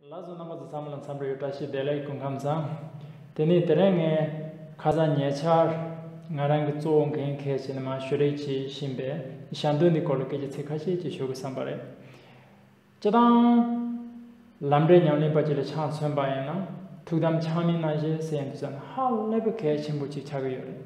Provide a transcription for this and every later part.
བླ་བཟོ་རྣམ་པ་ཚོ་ཚང་མ་ལ་འཚམས་འདྲི་ཡོད་བཀྲ་ཤིས་བདེ་ལེགས་སྐུ་ཁམས་བཟང། དེ་ནས་དེ་རིང་ངས་ཁ་སང་ཉེ་ཆར་ང་རང་གི་གཙོ་བོ་འགན་འཁེལ་བྱས་ནས་མང་ཤོས་རེག་བྱེད་བཞིན་པའི་ཞང་སྟོན་འདི་སྐོར་ལ་སྐད་ཆ་ཚིག་ཁ་ཤས་ཅིག་ཤོད་དགོས་བསམ་པ་རེད། སྤྱི་བཏང། ལམ་འབྲས་ཉམས་ལེན་པ་གཅིག་ལ་ཆང་མཚོན་པ་ཡིན་ན་ཐུགས་དམ་ཆང་མིན་ནང་བཞིན་སེམས་ཅན་ཧ་ལས་པའི་གལ་ཆེན་པོ་གཅིག་ཆགས་ཀྱི་ཡོད་རེད།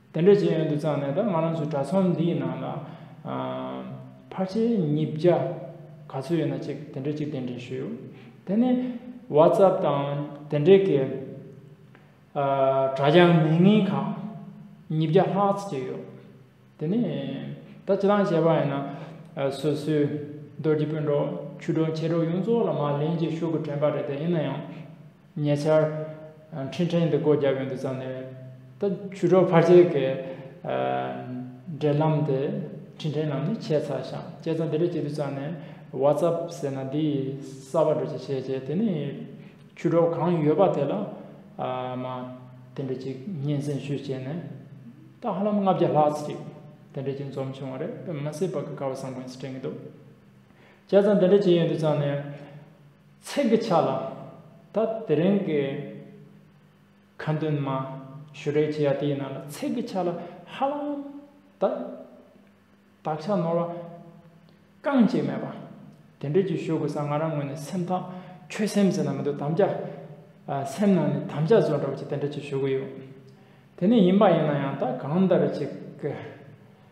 དེ་འདྲ་བྱེད་ཡོན་དུ་བརྩམས་ནས་ད་ང་རང་ཚོའི་དྲ་ཚོམས་འདིའི་ནང་ལ་ཕར་ཆེར་ཉིས་བརྒྱ་ག་ཚོད་ཡོད་ན་གཅིག་དེ་འདྲ་གཅིག་དེ་འདྲ་ཞུ་དེ་ནས Whatsapp དང་དེ་འདྲ་གི་དྲ་རྒྱ་མི་ངན་ཁག་ཉིས་བརྒྱ་ལྷག་ཙི་ཅིག་ཡོད་དེ་ནས་ད་ཇི་ལྟར་བྱས་པ་ཡིན་ན་སོ་སོའི་རྡོ་རྗེ་དཔོན་གྲོགས་ཆུ་གྲོགས་མཆེད་གྲོགས་ཡོངས་རྫོགས་ལ་མར་ལན་གཅིག་ཤོག་གུ་དྲན་པ་རེད་དེ་ཡིན་ན་ཡང་ཉེ་ཆར། འཕྲིན་ཕྲན་འདི་སྒོ་རྒྱབ་ཡོང་དུས་ཙམ་ནས། ད་ཆུ་གྲོག་ཕར་ཆེར་གྱི། འབྲེལ་ལམ་དེ། འཕྲིན་ཕྲན་རྣམས་ནི་ཆད་ཚར་ཞིང་བཅད་ཚར་འདི་འདྲ་བྱེད་དུས་ཙམ་ནས། WhatsApp ཟེར་ན་འདི་ཡིས་གསར་པ་འགྲོ་ཅི་བྱེད་བྱེད་དེ་ནི། ཆུ་གྲོག་གང་ཡོད་པ་དེ་ལ། མ། དེ་འདྲ་ཅིག་སྙན་གསན་ཞུས་བྱས་ནས། ད་ཧ་ལམ་ལྔ་བརྒྱ་ལྷག་ཅིག། དེ་འདྲ་ཅིག་འཛོམས་བྱུང་བ་རེད་པས་མ་སྲིད་པ་ཀ་ཁ་བ་བཟང་པོ་ཡིན་ཟེར་དྲན་གྱི་འདུག་བཅད་ཚར་འདི་འདྲ་བྱེད་ཡོང་དུས་ཙམ་ནས། ཚིག་གི་ཆ་ལ། ད་དེ་རིང་གི་ཁ་འདོན་མ་ཞུ་རེ་བྱས་ཡ་དེའི་ནང་ལ་ཚིག་གི་ཆ་ལ་ཧ་ལམ་ད་དག་ཆ་ནོར་བ་རྐང་གཅིག་མེད་པ་དེ་འདྲས་ཀྱི་ཞུ་དགོས་ས་ང་རང་ངོས་ནས་སེམས་ཐག་ཆོད་སེམས་ཟེར་ན་མི་འདུག་དམ་བཅའ་སེམས་ནང་ནས་དམ་བཅའ་བཟོ་འདྲ་བ་ཅིག་དེ་འདྲས་ཅིག་ཞུ་གི་ཡོད་དེ་ནས་ཡིན་པ་ཡིན་ན་ཡང་ད་གང་འདྲ་རེ་ཅིག་གི་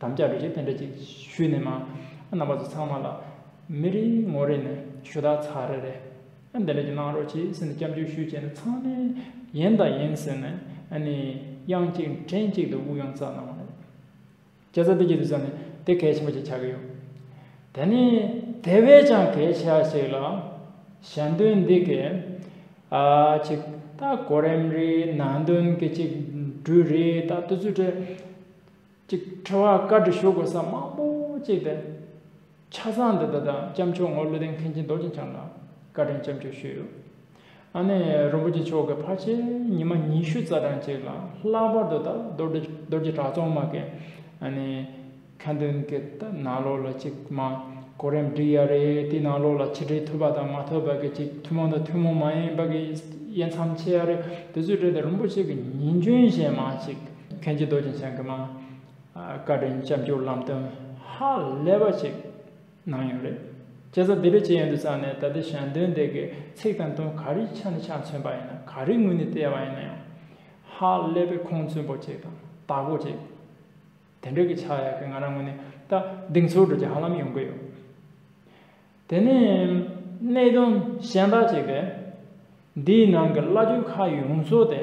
དམ་བཅའ་འགྲོ་ཆས་དེ་འདྲ་ཅིག་ཞུས་ནས་མ་རྣམ་པ་ཚོ་ཚང་མ་ལ་མི་རེ་ངོ་རེ་ནས་ཞུ་དག་ཚར་རེ་རེ་ཨ་འདི་འདྲ་ཅིག་གནང་རོགས་བྱས་ཟེར་ནས་སྐྱབས་མཆོད་ཞུས་བྱས་ནས་ཚང་མས་ཡིན་དང་ཡིན་ཟེར་ནས་ཨ་ནི་དབྱངས་གཅིག་དྲན་གཅིག་ཏུ་དབུགས་ཡོངས་རྩ་གནང་བ་རེད། སྐྱ་ས་འདི་ཀྱི་དུས་ཚོད་ནི་དེ་གལ་ཆེན་པོ་ཞིག་ཆགས་ཀྱི་ཡོད། དེ་ནི་དེ་བས་ཀྱང་གལ་ཆེ་བ་ཞིག་ལ། ཞལ་འདོན་འདི་གས་ཨ་ཅིག་ད་གོ་རིམ་རེའི་ནང་དོན་གྱི་གཅིག་འགྲུལ་རེའི་ད་ལྟ་ཚུལ་བྲལ། ཅིག་ཁྲོ་བ་བཀའ་དྲི་ཞུ་དགོས་ས་མང་པོ་གཅིག་སྟེ། ཆ་ཚང་འདི་དག་དང་སྐྱབས་མཆོག་ངོར་ཀླུ་ལྡན་མཁན་ཆེན་རྡོ་རྗེ་འཆང་ལ་བཀའ་དྲིན་སྐྱབས་མཆོད་ཞུས་ཡོད། ཨ་ནེ་རིན་པོ་ཆེ་མཆོག་གི་ཕ་ཆེ་ཉི་མ་ཉི་ཤུ་རྩ་གྲངས་གཅིག་ལ་ལྷག་པར་དུ་ད་རྡོ་རྗེ་གྲྭ་ཚང་མ་གི་ཨ་ནེ་མཁན་སྟོན་གི་ད་ནང་ལོགས་ལ་ཅིག་མ་གོ་རིམ་བསྒྲིགས་ཡ་རེད་དེའི་ནང་ལོགས་ལ་ཆིག་སྒྲིལ་ཐུབ་པ་དང་མ་ཐུབ་པ་གི་ཅིག་ཐུན་མོང་དང་ཐུན་མོང་མ་ཡིན་པ་གི་དབྱེ་མཚམས་ཕྱེ་ཡ་རེད་དེ་ཚོའི་གྲས་དེ་རིན་པོ་ཆེ་གི་ཉིན་རྒྱུན་གཞན་མ་ཅིག་མཁན་ཆེན་རྡོ་རྗེ་འཆང་གི་མ། བཀའ་དྲིན་སྐྱབས་འཇུག་ལམ་སྟོན་ཧ་ལས་པ་ཞིག་གནང་ཡོད་རེད། སྐྱེས་སར་འདི་འདྲའི་ཆེ་ཡོད་འདུག་བསམ་ནས་ད་ལྟའི་ཞལ་འདོན་འདི་གའི་ཚིག་དང་དོན་ག་རེའི་ཆ་ནས་ཆ་མཚོན་པ་ཡིན་ན་ག་རེའི་ངོས་ནས་བལྟས་པ་ཡིན་ན་ཡང། ཧ་ལས་པའི་ཁུངས་བཙུན་པོ་ཅིག་དང་དག་པོ་ཅིག་དེ་འདྲ་གི་ཆགས་ཡག་གི་ང་རང་ངོས་ནས་ད་སྡིག་འཚོལ་འགྲོ་རྒྱུ་ཧ་ལམ་ཡོང་གི་ཡོད། དེ་ནས་གནད་དོན་གཞན་དག་ཅིག་རེད། འདིའི་ནང་གི་བླ་སྤྲུལ་ཁ་ཡོངས་རྫོགས་དེ།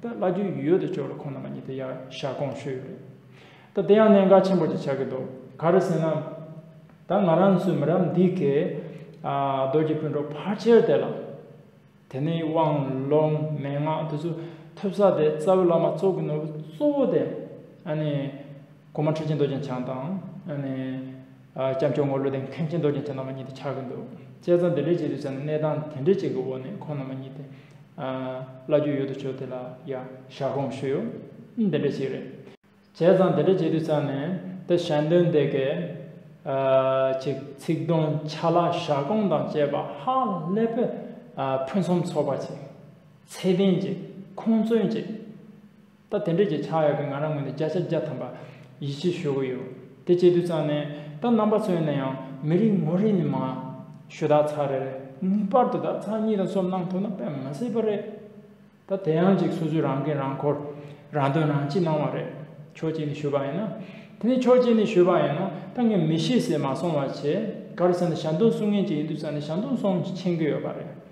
ད་བླ་རྒྱུད་ཡུལ་དུ་ཕྱོགས་རེ་ཁོང་རྣམ་པ་གཉིས་དེ་ཡང་ཞལ་སྐོང་ཞུས་ཡོད་རེད། ད་དེ་ཡང་གནད་འགག་ཆེན་པོ་ཅིག་ཆགས་ཀྱི་འདུག་ག་རེ་ཟེར་ན། ད་ང་རང་ཚོའི་མི་རབས་འདི་གས། རྡོ་རྗེ་སྤུན་གྲོགས་ཕར་ཆེར་དེ་ལ། དེ་ནས་དབང་ལུང་མན་ངག་དེ་ཚོ་ཐོས་ས་དེ་རྩ་བའི་བླ་མ་གཙོ་གི་ནོར་བུ་གཙོ་བོ་དེ། གོང་མ་ཁྲི་ཆེན་རྡོ་རྗེ་འཆང་དང། སྐྱབས་མཆོག་ངོར་ཀླུ་ལྡན་མཁན་ཆེན་རྡོ་རྗེ་འཆང་རྣམ་པ་གཉིས་དེ་ཆགས་ཀྱི་འདུག་དཔྱད་རྩོམ་འདི་འབྲི་བྱེད་དུ་བྱས་ན་གནས་སྟངས་དེ་འདྲའི་ཅིག་གི་འོག་ནས་ཁོང་རྣམ་པ་གཉིས་དེ། བླ་རྒྱུད་ཡོད་དོ་ཅོག་དེ་ལ་ཡང་ཞག་གོང་བཞུགས་ཡོད། འདི་འདྲ་ཞིག་རེད། བྱས་ཙང་འདི་འདྲ་བྱེད་དུ་བརྩམས་ནས་དེ་ཞལ་འདོན་དེ་གས། ཅིག་ཚིག་སྡོམ་ཆ་ལག་ཞག་གོང་དང་བཅས་པ་ཧ་ལས་པོ། ཕུན་སུམ་ཚོགས་པ་ཅིག། ཚད་ལྡན་ཅིག་ཁུངས་བཙུན་ཅིག། ད་དེ་འདྲས་ཀྱི་ཆགས་ཡོད་པས་ང་རང་ངོས་ནས་བརྒྱ་ཆ་བརྒྱ་ཐམ་པ་ཡིད་ཆེས་ཞུ་གི་ཡོད། དེ་བྱེད་དུས་ཙང་ནས་ད་རྣམ་པ་ཚོས་ནས་ཡང་མི་རིགས་ངོ་རེ་ནས་མ། ཞུ་དག་ཚར་རེ་རེ་ངེས་པར་དུ་དག་ཚར་གཉིས་དང་གསུམ་གནང་ཐུབ་ན་དཔེ་མི་སྲིད་པ་རེད། ད་དེ་ཡང་ཅིག་སོ་སོས་རང་འགན་རང་འཁོར་རང་དོན་རང་གཅེས་གནང་བ་རེད། ཕྱོགས་གཅིག་ནས་ཞུས་པ་ཡིན་ན། དེ་ནས་ཕྱོགས་གཅིག་ནས་ཞུས་པ་ཡིན་ན་ད་ངས་མི་ཤེས་ཟེར་མ་སོང་བ་བྱས། ག་རེ་ཟེར་ན་ཞབས་འདོན་སྲུང་མཁན་གཅིག་ཡིན་དུས་ཙང་ནས་ཞབས་འདོན་སྲུང་མཁྱེན་གི་ཡོད་པ་རེད།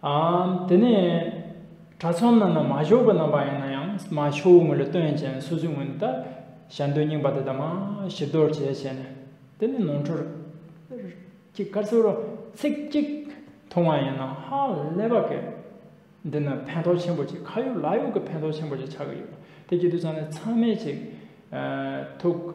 དེ་ནས་གྲྭ་ཚང་རྣམས་ན་མ་ཞོག་པའི་རྣམ་པ་ཡིན་ན་ཡང་མ་ཤོག་བུ་ངོས་ལ་སྟོན་ཅན་སོ་སོའི་ངོས་ནས་ད་ཞལ་འདོན་རྙིང་པ་དེ་དག་མ་ཞིབ་རྡོར་བྱས་བྱས་ནས་དེ་ནས་ནོར་འཁྲུལ་གྱི་སྐར་ཚོགས་རོ་ཚིག་གཅིག་མཐོང་བ་ཡིན་ན་ཧ་ལས་པ་གལ། འདི་ནི་ཕན་ཐོགས་ཆེན་པོ་ཅིག་ཁ་ཡོག་ལག་ཡོག་གི་ཕན་ཐོགས་ཆེན་པོ་ཅིག་ཆགས་ཀྱི་ཡོད་པ་དེ་ཀྱི་དུས་ཚང་ནས་ཚང་མས་ཅིག་ཐུགས།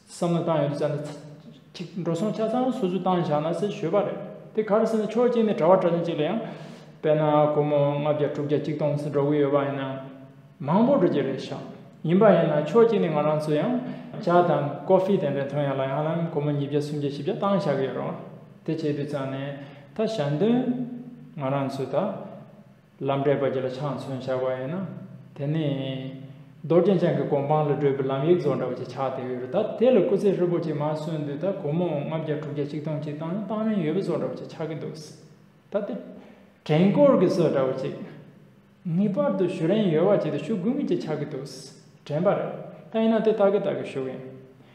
བསམ་བློ་བཏང་ཡོད་དུ་བཅར་ན། ཅིག་འགྲོ་སོང་ཆ་ཚང་སོ་སོས་བཏང་བཞག་ན་ཟེར་ཞོལ་པ་རེད། དེ་ག་རེ་ཟེར་ན་ཆོས་སྐྱིད་ནི་གྲྭ་བ་གྲྭ་ལས་ཅིག་ལ་ཡང། དཔེར་ན་སྒོར་མོ་ལྔ་བརྒྱ་དྲུག་བརྒྱ་གཅིག་སྟོང་ཟིག་འགྲོ་གི་ཡོད་པ་ཡིན་ན། མང་པོ་འགྲོ་རྒྱུ་རེད་བཞག། ཡིན་པ་ཡིན་ན་ཆོས་སྐྱིད་ནི་ང་རང་ཚོས་ཡང། ཅག་དང་ཀོ་ཧྥེ་དེ་འདྲ་ཐོན་ཡག་ལ་ཡང་ན་སྒོར་མོ་ཉིས་བརྒྱ་སུམ་བརྒྱ་བཞི་བརྒྱ་བཏང་བཞག་གི་ཡོད་རུང། དེ་བྱས་དུས་ཙང་ནས། ད་ཞག་འདོན། ང་རང་ཚོས་ད། ལམ་དྲེགས་པ་གྱི་ལ་ཕྱག་མཚོན་ཆགས་པ་ཡིན་ན། དེ་ནི། རྡོ་རྗེ་འཆང་གི་གོ་འཕང་ལ་བགྲོད་པའི་ལམ་ཡིག་རྫོགས་འདྲ་བ་ཅིག་ཆགས་བསྡད་ཡོད་རེད་ད་དེ་ལ་སྐུ་ཚེ་ཧྲིལ་པོ་ཅིག་མ་གསོན་དུས་ད་གོ་མོ་ལྔ་བརྒྱ་དྲུག་བརྒྱ་གཅིག་སྟོང་གཅིག་བཏང་ན་བཏང་རིན་ཡོད་པ་རྫོགས་འདྲ་བ་ཅིག་ཆགས་ཀྱི་འདུག་ད་དེ། བྲན་བསྐོར་གྱི་སྲོལ་འདྲ་བ་ཅིག། ངེས་པར་དུ་ཞུ་རན་ཡོད་བ་ཅིག་ཏུ་ཞུ་དགོས་ངེས་ཅིག་ཆགས་ཀྱི་འདུག་དྲན་པ་རེད་ད་ཡིན་ན་དེ་ད་གི་ད་གི་ཞུ་གི་ཡིན།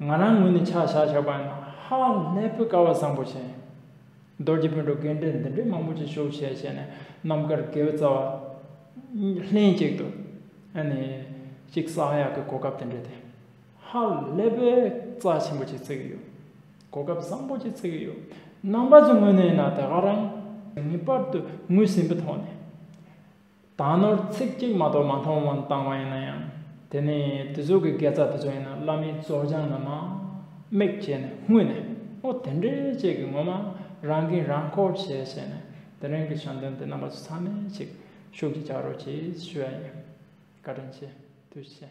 ང་རང་ངོས་ནས་ཆ་བཞག་ཆོག་པ་ཡིན་ན་ཧ་ལས་པོའི་སྐལ་བ་བཟང་པོ་ཞིག་ཡིན། རྡོ་རྗེ་དཔོན་གྲོགས་རྒན་གྲས་འདི་འདྲའི་མང་པོ་ཅིག་ཤོག་བྱས་བྱས་ནས་རྣམ་དཀར་དགེ་བའི་རྩ་བ། ལྷན་གཅིག་ཏུ། ཨ་ནི། གཅིག་ས་ཡག་གི་གོ་སྐབས་དེ་འདྲ་དེ། ཧ་ལས་པོའི་རྩ་ཆེན་པོ་ཅིག་བརྩི་གི་ཡོད། གོ་སྐབས་བཟང་པོ་ཅིག་བརྩི་གི་ཡོད། རྣམ་པ་ཚོའི་ངོས་ནས་ཡིན་ན་དེ་ག་རང། ངེས་པར་དུ་ངོས་ཟིན་པའི་ཐོག་ནས། དག་ནོར་ཚིག་གཅིག་མ་གཏོགས་མ་མཐོང་བར་བཏང་བ་ཡིན་ན་ཡང་དེ་ནི་དེ་ཚོ་གི་དགེ་རྩ་དེ་ཚོ་ཡིན་ན་བླ་མའི་བཙོ་སྦྱང་ལ་མ་དམིགས་བྱས་ནས་སྔུན་ནས་ཨོ་དེ་འདྲས་བྱས་གི་ངོ་མ་རང་གིས་རང་ཁོ་བྱས་བྱས་ནས་དེ་རིང་གི་བྱམས་སྟོན་དེ་རྣམ་པ་ཚོ་ཚང་མས་ཅིག་ཤུགས་ཀྱིས་བྱ་རོགས་ཅེས་ཞུ་ཡ་ཡིན་བཀའ་དྲིན་ཆེ་དུས་ཆེ།